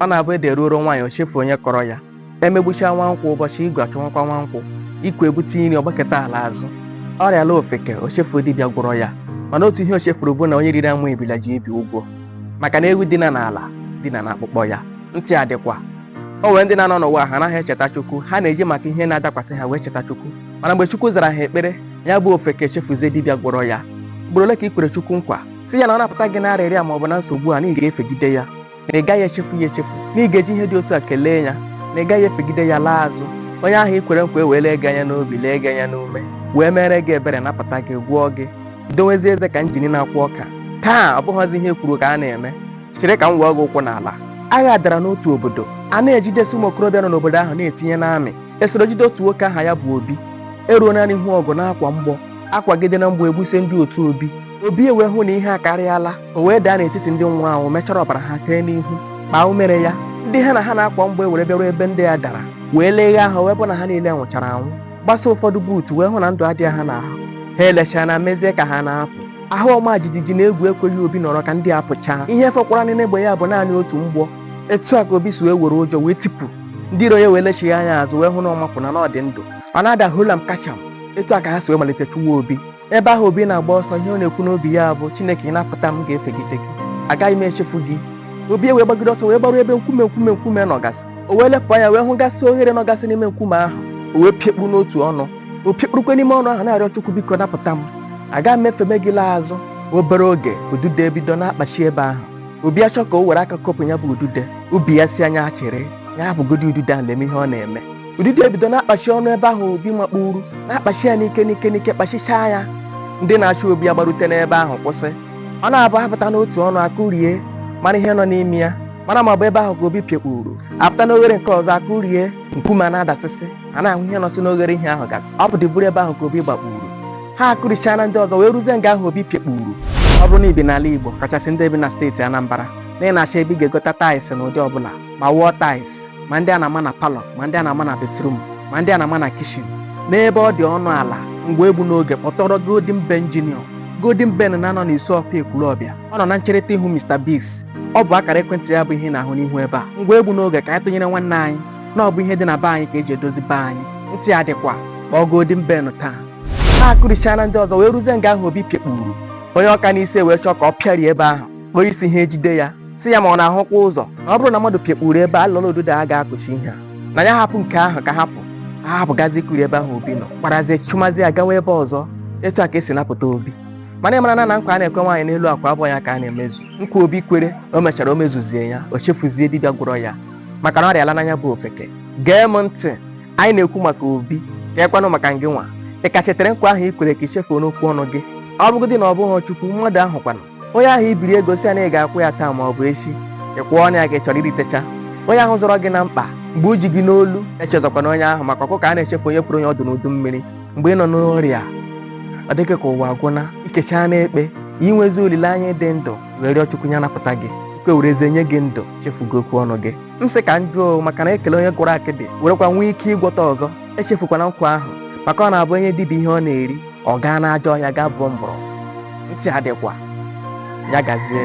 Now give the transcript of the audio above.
ọ na-abụ ede ruoro nwaanyị o chefu onye kọrọ ya emegbuchaa nwa nkwụ ụbọchị igu achọwakwa nwa nkwụ ikwe bute nri ọ gbakụta ala azụ ọrịa laa ofeke o chefu dibịa gwọrọ ya mana otu ihe o chefuru bụ na onye riri amụ ebila ji ibi ụgwọ maka na ewu dina n'ala dina na akpụkpọ ya ntị adịkwa o nwere ndị na-anọ n'ụwa ha anaghị echeta chukwu ha na-eji maka ihe na-adakwasị ha wee cheta chukwu mana mgbe chukwu zara ha ekpere ya bụ ofeke chefuzie dibịa gwọrọ ya ugboro ole ka i kwere chukwu nkwa sị ya na ọ napụta gị na arịrịa ma ọ bụ na nsogbu a na ị ga-efegide ya na ị gaghị echefu ya echefu na ị ga-eji ihe dị otu a kelee ya na ị gaghị efegide ya laa azụ onye ahụ i kwere nkwa ewee lee gị anya n'obi lee gị anya n'ume wee mere gị ebere napụta gị gwọọ gị dowezie eze ka njini na-akwọ ọka taa ọ bụghịzi ihe e kwuru ka a na-eme chere ka m wee gị ụkwụ n'ala agha dara n'otu obodo a na-ejidesi ụmụ okorobịa nọ n'obodo ahụ na-etinye n'amị e soro jide otu nwoke aha ya bụ obi eruona n'ihu ọgụ na-akwa mgbọ akwagidena mgbọ egbusie ndị otu obi obi ewee hụ na ihe akarịala o wee daa n'etiti ndị nwụrụ anwụ mechara ọbara ha tee n'ihu kpaa umere ya ndị ha na ha na-akwa mgbọ ewere bịaruo ebe ndị ya dara wee leghe ahụ wee bụ na ha niile nwụchara anwụ gbasa ụfọdụ buutu wee hụ na ndụ adịghị ha n'ahụ ha elechaana mezie ka ha na-apụ ahụ ọma jijiji na egwu ekweghị obi nọrọ ka ndị a pụchaa ihe fọkwara n'ime egbe ya bụ naanị otu mgbọ etu a ka obi si wee were ụjọ wee tipụ ndị iro ya wee lechigha anya azụ wee hụ na ọ mapụna na ọ dị ndụ ọ na-ada hold am catch am etu a ka ha si wee malite chụwa obi ebe ahụ obi na-agba ọsọ ihe ọ na-ekwu n'obi ya bụ chineke ị napụta m ga-efegide gị agaghị m echefu gị obi wee gbagide ọsọ wee gbaruo ebe nkume nkume nkume nọgasị o wee lepụ anya wee hụ gasị oghere nọgasị n'ime nkume ahụ o wee piekpu n'otu ọnụ o piekpurukwe n'ime ọnụ ahụ na-arịọ chukwu biko napụta m agaghị m efeme gị laa azụ obere oge udude ebido na-akpachi ebe ahụ obi achọ ka o were aka kopụ ya bụ udude obi ya asị ya chere ya bụgodi udude a na-eme ihe ọ na-eme Udide ebido na-akpachi ọnụ ebe ahụ Obi makpuru, na-akpachi ya n'ike n'ike n'ike kpachichaa ya. Ndị na-achụ Obi agbarute n'ebe ahụ kwụsị. Ọ na-abụ apụta n'otu ọnụ akụrie mara ihe nọ n'ime ya mara ma ọ bụ ebe ahụ ka Obi piekpuru apụta n'oghere nke ọzọ akụrie nkume a na-adasịsị a na-ahụ ihe nọsị n'oghere ihe ahụ gasị ọ bụdị bụrụ ebe ahụ ka Obi gbakpuru ha akụrichaana ndị ọzọ wee ruzie nga ahụ Obi piekpuru ọ bụrụ na i bi n'ala Igbo kachasị ndị bi na steeti Anambra na ị na-achọ ebe ị ga-egota taịsị n'ụdị ọbụla ma wall taịsị ma ndị a na-ama na palọ ma ndị a na-ama na betrum ma ndị a na-ama na kishin n'ebe ọ dị ọnụ ala ngwa egbuna oge kpọtụrụ golden ben junior golden ben na-anọ n'isuọfịa ekwulọbịa ọ nọ na ncherịta ihu mr bigs ọ bụ akara ekwentị ya bụ ihe ị na-ahụ n'ihu ebe a ngwa egbuna oge ka anyị tụnyere nwanne anyị na ọ bụ ihe dị na be anyị ka eji edozi be anyị ntị adịkwa kpọọ golden ben taa ha akụrichaana ndị ọzọ wee ruzie nga ahụ obi piekpuru onye ọ ka n'isi wee chọọ ka ọ pịarie ebe ahụ kpọọ isi ha ejide ya sị ya ma ọ na-ahụkwa ụzọ na ọ bụrụ na mmadụ pịakpuru ebe a lọrọ ududo a ga-akụchi ihe a na ya hapụ nke ahụ ka ha pụọ ha hapụgazi kuri ebe ahụ obi nọ gbarazie chụmazi ya gawa ebe ọzọ etu a ka e si napụta obi mana ị mara na na nkwa a na-ekwe nwaanyị n'elu akwa abụrọ ya ka a na-emezu nkwa obi kwere o mechara o mezuzie ya o chefuzie dibịa gwọrọ ya maka na ọrịa alaana ya bụ ofeke gee m ntị anyị na-ekwu maka obi kee kwanụ maka ngị nwa ị ka chetere nkwa ahụ i kwere ka i chefuona okwu ọnụ gị ọ bụgodị na ọ bụghị chukwu mmadụ ahụ kwanụ onye ahụ i biri ego sị ya na ị ga-akwụ ya taa ma ọ bụ echi ị kwụọna ya gị chọrọ iritecha onye ahụ zọrọ gị na mkpa mgbe o ji gị n'olu echezọkwana onye ahụ maka ọkụkọ anaghị echefu onye foro ya ọdụ n'udu mmiri mgbe ị nọ n'ọrịa ọ dị gị ka ụwa agwụna i kechaana ekpe i nwezi olileanya ịdị ndụ wee rịọ chukwu ya napụta gị o kwerezie nye gị ndụ chefugo okwu ọnụ gị m sị ka m jụọ maka na e kelee onye gwọrọ akịdị werekwa nwee ike ịgwọta ọzọ echefukwana nkwa ahụ maka ọ na-abụ e nye dibịa ihe ọ na-eri ọ gaa n'ajọ ọhịa gaa buo mgbọrọgwụ ntị adịkwa ya gazie